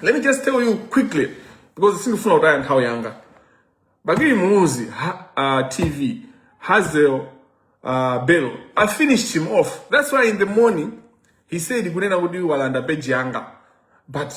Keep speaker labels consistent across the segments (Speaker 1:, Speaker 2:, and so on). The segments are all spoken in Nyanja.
Speaker 1: Let me just tell you quickly because sindifuna kutaya nthawi yanga. Bakili Muluzi ha, uh, TV Hazel uh, Bello I finished him off. That's why in the morning he said kunena kuti walanda page yanga. But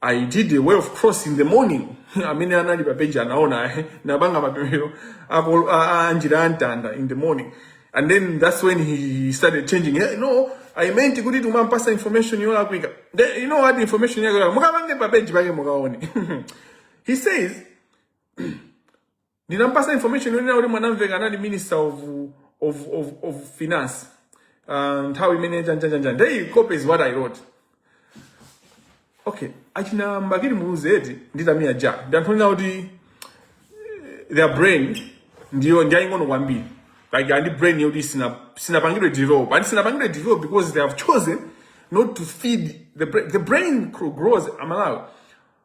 Speaker 1: I did a way of cross in the morning. Amene anali pa page anaona eh, napanga mapemphero a- a- anjira ya mtanda in the morning. and then that's when he started changing hey, no i meant kuti timampasa information yolakwika Then, you know what information yake yolakwika mukamve pa page pake mukaone he says ndinampasa information yonena kuti mwanamveka anali minister of, of, of, of finance uh, nthawi imene chanjanjanjan they copy what i wrote okay achina Bakili muluzi eti ndi tamia ja ndi anthu onena kuti eh, their brain ndi yaying'ono kwambiri like ndi brain yoti sina sinapangidwe develop and sinapangidwe develop because they have chosen not to feed the brain the brain grows amalawi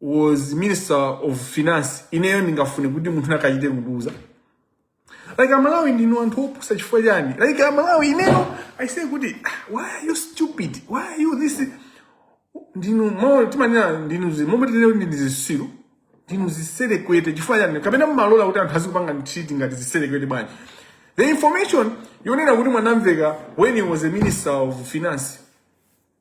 Speaker 1: was minister of finance ineyo ndingafune kuti munthu akachite kukuuzani like amalawi ndinu anthu opusa chifukwa chiyani like amalawi ineyo i say kuti "Ah, why are you stupid why are you this ndinu mo timanena ndinu zi momwe tinene ndi zisiru ndinu ziserekwete chifukwa chiyani kapena mumalola kuti anthu azikupanga ntchiti ngati ziserekwete bwanji the information yonena kuti mwanamveka when he was a minister of finance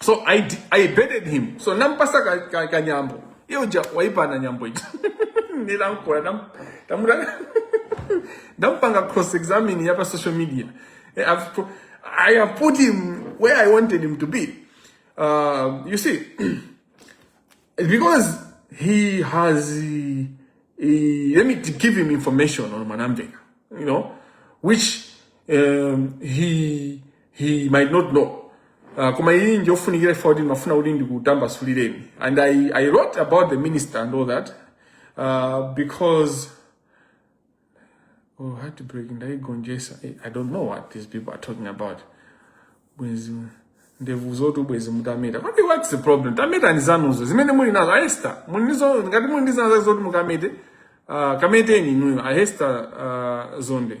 Speaker 1: so i, d- I baited him so nampasa ka, ka, ka nyambo iye uja waipana nyambo ija nilankola nam, tamuda ndampanga cross examine yapa social media Eh, I've, pro- i have put him where i wanted him to be uh, you see It's because he has uh, uh, let me t- give him information on Manamveka, you know, which um, he he might not know uh, koma iyi njofunikira chifukwa kuti ndimafuna kuti ndikutambasulireni and I, i wrote about the minister and all that uh, because oh heartbreak ndayigonjesa Eh, i don't know what these people are talking about bwenzi ndevu zotu bwenzi mutameta kodi what's the problem tametani zanuzo zimene muli nazo ahesta muli nazo ngati muli ndi zinazo zoti mukamete uh, kameteni inuyo ahesta uh, zonde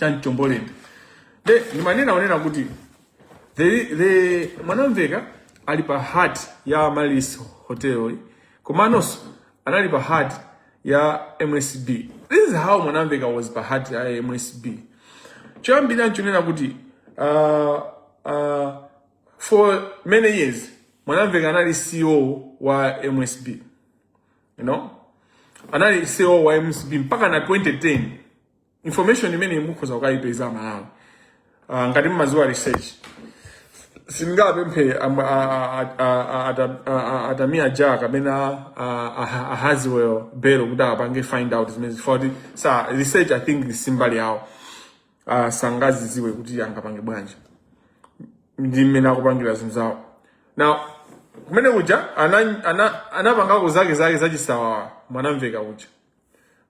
Speaker 1: cha mchombolende de ndimanena kunena kuti the, the mwanamveka ali pa heart ya malis hotel komanso anali pa heart ya msb this is how mwanamveka was pa heart ya msb choyambira nchonena kuti uh, uh, for many years mwanamveka anali ceo wa msb you know anali ceo wa msb mpaka na 2010 information imeneyi mukhoza kukayipeza amalawi uh, ngati mmaziwa research sindingapemphe am- a- a- a- a- ata- a- a- a Tamia Ja kapena a- a- a Hazel Bello kuti apange find out zimene chifukwa kuti sa research i think simbali yawo uh, sangaziziwe kuti angapange bwanji ndi mmene akupangira zinthu zawo now kumene kuja ana- ana- anapangako zake zake zachisawawa mwanamveka kuja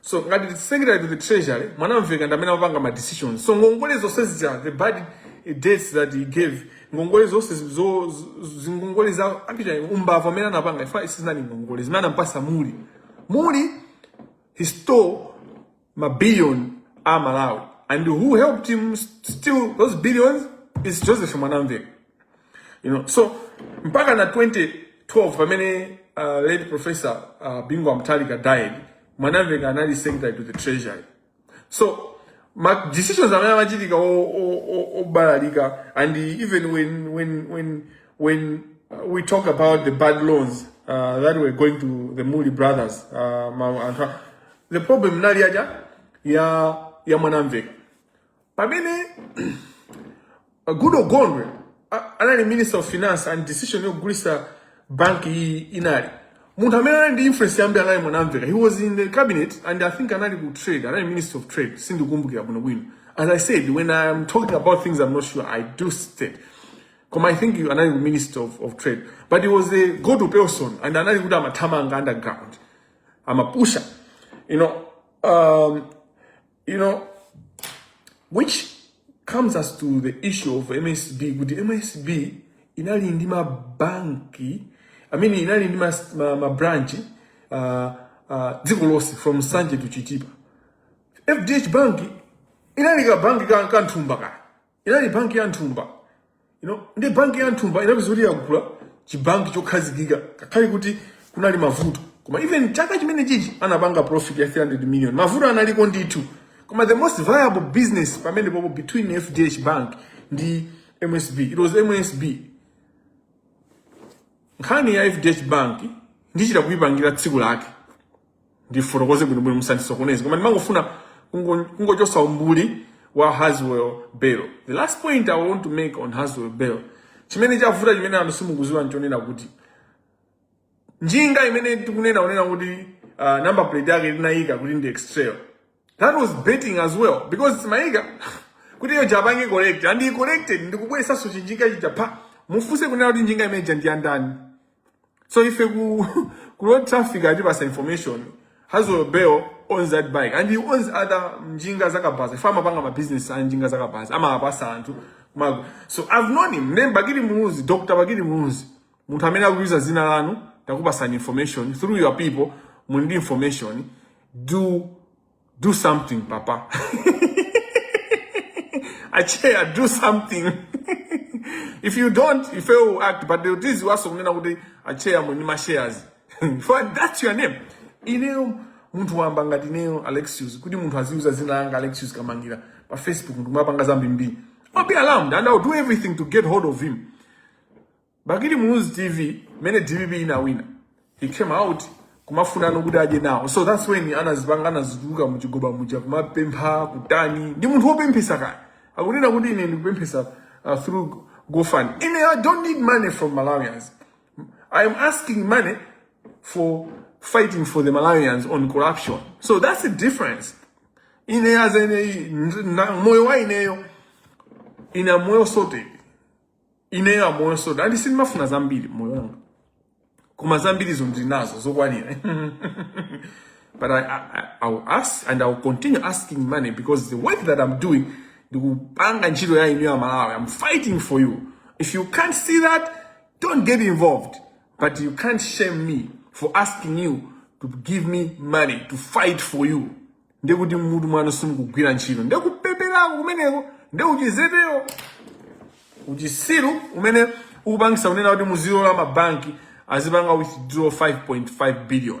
Speaker 1: so ngati the secretary to the treasury mwanamveka ndamene amapanga ma decision so ngongole zonse zija the bad debts that he gave ngongole zonse zi- zo- zi- zingongole za actually umbava amene anapanga ifa sizinali ngongole zimene anampasa muli muli he stole mabillion a malawi and who helped him steal those billions is joseph mwanamveka you know so mpaka na 2012 pamene uh, late professor uh, bingu wa mutharika died mwanamveka anali secretary to the treasury so ma decisions amene amachitika o- o- o- obalalika and even when when when when uh, we talk about the bad loans uh, that were going to the Muli brothers uh, ma- anthu a- the problem inali yaja ya ya mwanamveka pamene goodall gondwe a- anali minister of finance and decision yogulisa banki iyi inali munthu amene anali ndi influence yambiri anali mwanamveka he was in the cabinet and i think anali ku trade anali minister of trade sindikumbukira bwinobwino as i said when i'm talking about things i'm not sure i do state koma i think you- anali ku minister of, of trade but he was a go to person and anali kuti amathamanga underground amapusha you know um, you know which comes us to the issue of msb kuti msb inali ndi mabanki i mean inali ndi mas- ma- mabranch uh, uh, dziko lonse from nsanje to chitipa fdh bank inali kabanki ka kanthumba kaya inali banki ya nthumba you know, ndi banki ya nthumba inapeza kuti yagula chibanki chokhazikika ngakhale kuti kunali mavuto koma even chaka chimene chichi anapanga profit ya 300 million mavuto analiko ndithu koma the most viable business pamenepopo between fdh bank ndi msb it was msb nkhani ya fdh bank ndichita kuyipangira tsiku lake ndifotokoze bwinobwino musandisokoneze koma ndimangofuna kungo- kungochosa umbuli wa haswell bell the last point i want to make on haswell bell chimene chavuta chimene anthu simukuziwa nchonena kuti njinga imene tikunena unena kuti uh, number plate yake inayika kuti ndi extrail that was baiting as well because timaika kuti iyeyo apange correct and he corrected ndikubweresanso chinjinga chija apa mufunse kunena kuti njinga imeja ndi yandani so ife ku, ku road traffic atipatsa information haswell bell owns that bike and he owns other njinga zakabaza iye amapanga mabusiness a njinga zakabaza amawapatsa anthu kumago so i've known him name bakili muluzi dr bakili muluzi munthu amene akuyuza zina lanu takupasani information through your people muli ndi information do do something papa acheya do something if you don't ife will act but the tiziwaso kunena kuti acheya muli ndi mashares for that's your name ineyo munthu wamba ngati ineyo alexius kuti munthu aziyuza zina langa alexius kamangira pa facebook ndikumapanga zambimbiri i'll be alarmed and i'll do everything to get hold of him Bakili Muluzi TV mene DPP inawina he came out kumafuna nokuti adye nawo so that's when anazipanga anazituluka muchigoba muja kumapempha kutani ndi munthu wopemphesa kaya akunena kuti ine ndikupemphesa uh, through gofund ine i don't need money from malawians i am asking money for fighting for the malawians on corruption so that's the difference ine as ine moyo wa ineyo ine moyo sorted ineyo moyo sorted and sindimafuna zambiri moyo wanga koma zambirizo ndinazo zokwanira but I, I, I will ask and I will continue asking money because the work that I'm doing ndikupanga ntchito ya inu amalawi I'm fighting for you if you can't see that don't get involved but you can't shame me for asking you to give me money to fight for you ndiye kuti mmutu mwanu simukugwira ntchito ndiye kupepelako kumeneko ndiye uchizeteyo uchisiru umene ukupangisa kunena kuti muzilola mabanki azipanga withdraw 5.5 billion